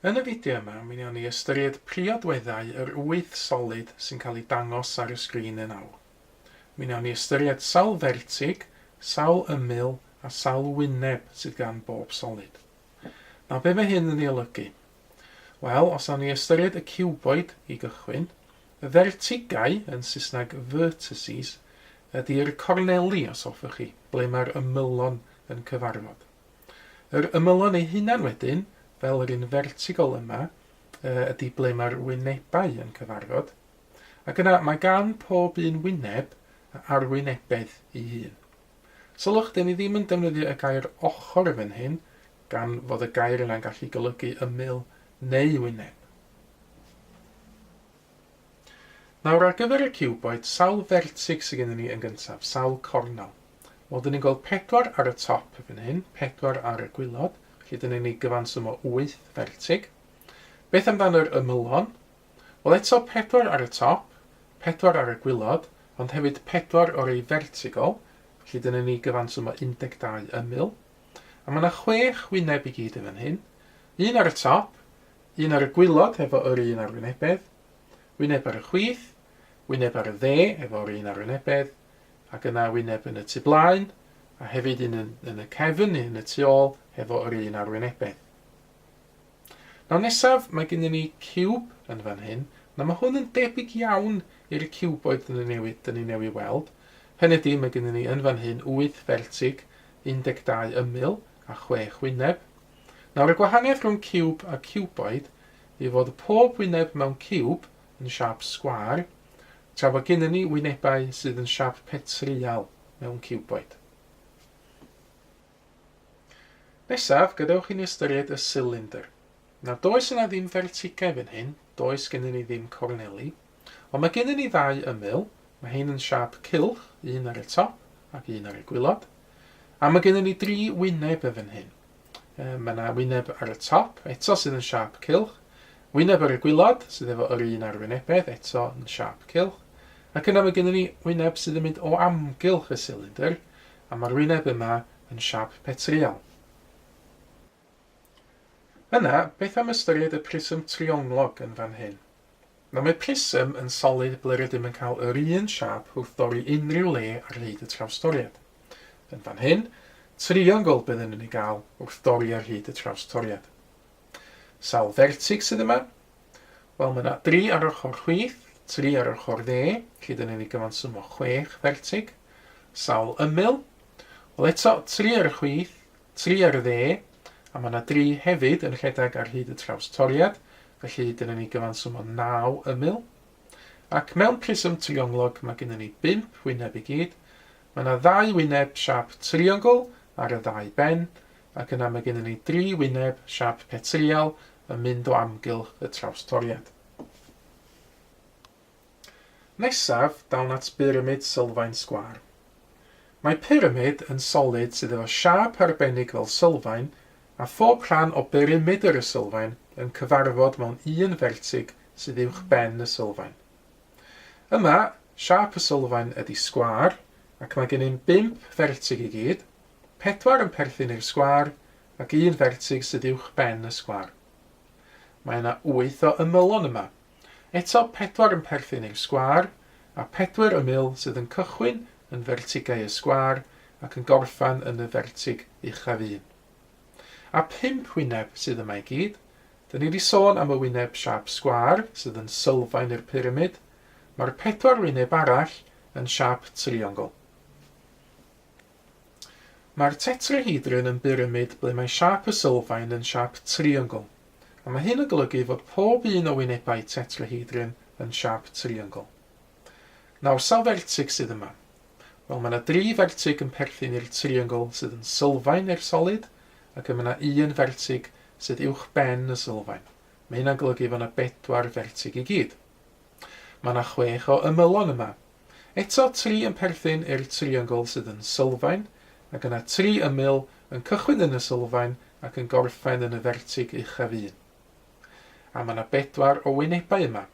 Yn y fideo yma, mi wnawn ni ystyried priodweddau yr wyth solid sy'n cael eu dangos ar y sgrin yn awr. Mi wnawn ni ystyried sawl fertig, sawl ymyl a sawl wyneb sydd gan bob solid. Nawr, be mae hyn yn ei olygu? Wel, os awn ni ystyried y ciwboid i gychwyn, Y fertigau, yn Saesneg vertices, ydy'r corneli, os hoffech chi, ble mae'r ymylon yn cyfarfod. Yr ymylon eu hunain wedyn, fel yr un fertigol yma, ydy ble mae'r wynebau yn cyfarfod, ac yna mae gan pob un wyneb a arwynebedd ei hun. Sylwch, dyn ni ddim yn defnyddio y gair ochr fan hyn, gan fod y gair yna'n gallu golygu ymyl neu wyneb. Nawr ar gyfer y ciwboid, sawl fertig sy gennyn ni yn gyntaf? Sawl cornel? Wel, dyn ni'n gweld pedwar ar y top fan hyn, pedwar ar y gwylod, felly dyn ni'n ei gyfansymo wyth fertig. Beth amdano'r ymylon? Wel, eto pedwar ar y top, pedwar ar y gwylod, ond hefyd pedwar o'r ei fertigol, felly dyn ni'n ei gyfansymo 12 ymyl. A mae yna chwech wyneb i gyd yn fan hyn, un ar y top, Un ar y gwilod efo yr un arwynebedd, wyneb ar y chwith, wyneb ar y dde efo'r un arwynebedd, ac yna wyneb yn y tu blaen, a hefyd un yn, yn y cefn neu yn y tu ôl efo yr un arwynebedd. Nawr nesaf, mae gennym ni ciwb yn fan hyn. Nawr mae hwn yn debyg iawn i'r ciwboid dyn ni newydd, dyn ni newydd weld. Hynny ydy, mae gennym ni yn fan hyn wyth fertig, 12 ymyl a chwech wyneb. Nawr y gwahaniaeth rhwng ciwb a ciwboid yw fod pob wyneb mewn ciwb yn siâp sgwâr, tra bod gennym ni wynebau sydd yn siâp petryal mewn ciwboid. Nesaf, gadewch i ni ystyried y silindr. Nawr does yna ddim fertigau fan hyn, does gennym ni ddim corneli, Ond mae gennyn ni ddau ymyl, mae hein yn siâp cylch, un ar y top ac un ar y gwilod. A mae gennyn ni dri wyneb yn fan hyn. Yy, mae 'na wyneb ar y top, eto sydd yn siâp cylch, wyneb ar y gwilod, sydd efo yr un arwynebedd, eto yn siâp cylch, ac yna mae gennyn ni wyneb sydd yn mynd o amgylch y silindr, a mae'r wyneb yma yn siâp petryal. Yna, beth am ystyried y prism trionglog yn fan hyn? Nawr, mae prism yn solid ble rydym yn cael yr un siâp wrth dorri unrhyw le ar hyd y trawstoriad. Yn fan hyn, triongl byddwn yn ei gael wrth dorri ar hyd y trawstoriad. Sawl fertig sydd yma? Wel, mae yna dri ar ochr chwith, tri ar ochr dde, felly dyn ni'n ei gyfansumo chwech fertig. Sawl ymyl? Wel eto, tri ar y chwith, Tri ar y dde, a mae 'na dri hefyd yn rhedeg ar hyd y traws toriad, felly dyna ni gyfanswm o naw ymyl. Ac mewn prism trionglog mae gynnon ni bump wyneb i gyd. Mae 'na ddau wyneb siâp triongl ar y ddau ben, ac yna mae gynnon ni dri wyneb siâp petrial yn mynd o amgylch y traws toriad. Nesaf, dawn at byramid sylfaen sgwâr. Mae pyramid yn solid sydd efo siâp arbennig fel sylfaen a phob rhan o berimedr y sylfaen yn cyfarfod mewn un fertig sydd uwch ben y sylfaen. Yma, siâp y sylfaen ydi sgwâr ac mae gennym bump fertig i gyd, pedwar yn perthyn i'r sgwâr ac un fertig sydd uwch ben y sgwâr. Mae yna wyth o ymylon yma. Eto pedwar yn perthyn i'r sgwâr, a phedwyr y mil sydd yn cychwyn yn fertigau y sgwâr ac yn gorffan yn y fertig uchaf un. A phump wyneb sydd yma i gyd, dyn ni di sôn am y wyneb siâp sgwâr sydd yn sylfaen i'r pyramid, mae'r pedwar wyneb arall yn siâp triongl. Mae'r tetrahedron yn byramid ble mae siâp y sylfaen yn siâp triongl, a mae hyn yn golygu fod pob un o wynebau tetrahedron yn siâp triongl. Nawr, sawl fertig sydd yma? Wel, mae yna dri fertig yn perthyn i'r triongl sydd yn sylfaen i'r solid, ac mae yna un fertig sydd uwchben y sylfaen. Mae hynna'n golygu fod yna bedwar fertig i gyd. Mae yna chwech o ymylon yma, Eto, tri yn perthyn i'r triongl sydd yn sylfaen, ac yna tri ymyl yn cychwyn yn y sylfaen ac yn gorffen yn y fertig uchaf un. A mae yna bedwar o wynebau yma.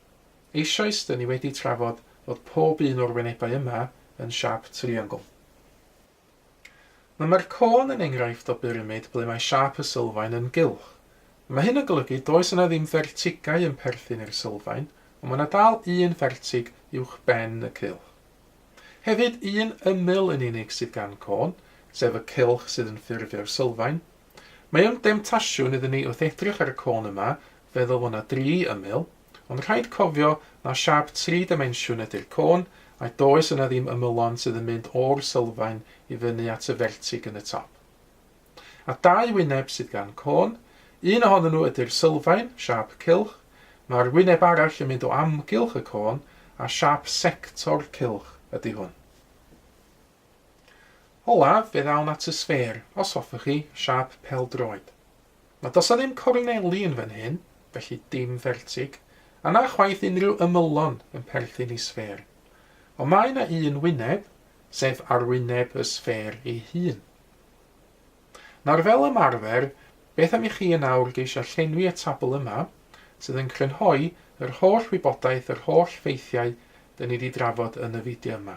Eisoes, dŷn ni wedi trafod fod pob un o'r wynebau yma yn siâp triongl. Nawr mae'r côn yn enghraifft o byramid ble mae siâp y sylfaen yn gylch. Mae hyn yn golygu does yna ddim fertigau yn perthyn i'r sylfaen, ond mae yna dal un fertig uwchben y cylch. Hefyd, un ymyl yn unig sydd gan côn, sef y cylch sydd yn ffurfio'r sylfaen. Mae o'n demtasiwn iddyn ni wrth edrych ar y côn yma feddwl fod yna dri ymyl, Ond rhaid cofio na siâp tri dimensiwn ydy'r côn, a does yna ddim ymylon sydd yn mynd o'r sylfaen i fyny at y fertig yn y top. A dau wyneb sydd gan côn, un ohonyn nhw ydy'r sylfaen, siâp cylch, mae'r wyneb arall yn mynd o amgylch y côn, a siâp sector cylch ydy hwn. Olaf, fe ddawn at y sffêr, os hoffech chi, siâp pêl-droed. Na does 'na ddim corneli yn fan hyn, felly dim fertig, a na chwaith unrhyw ymylon yn perthyn i sffêr. Ond mae 'na un wyneb, sef arwyneb y sffêr ei hun. Nawr fel ymarfer, beth am i chi yn awr geisio llenwi y tabl yma, sydd yn crynhoi yr holl wybodaeth, yr holl ffeithiau 'da ni 'di drafod yn y fideo yma.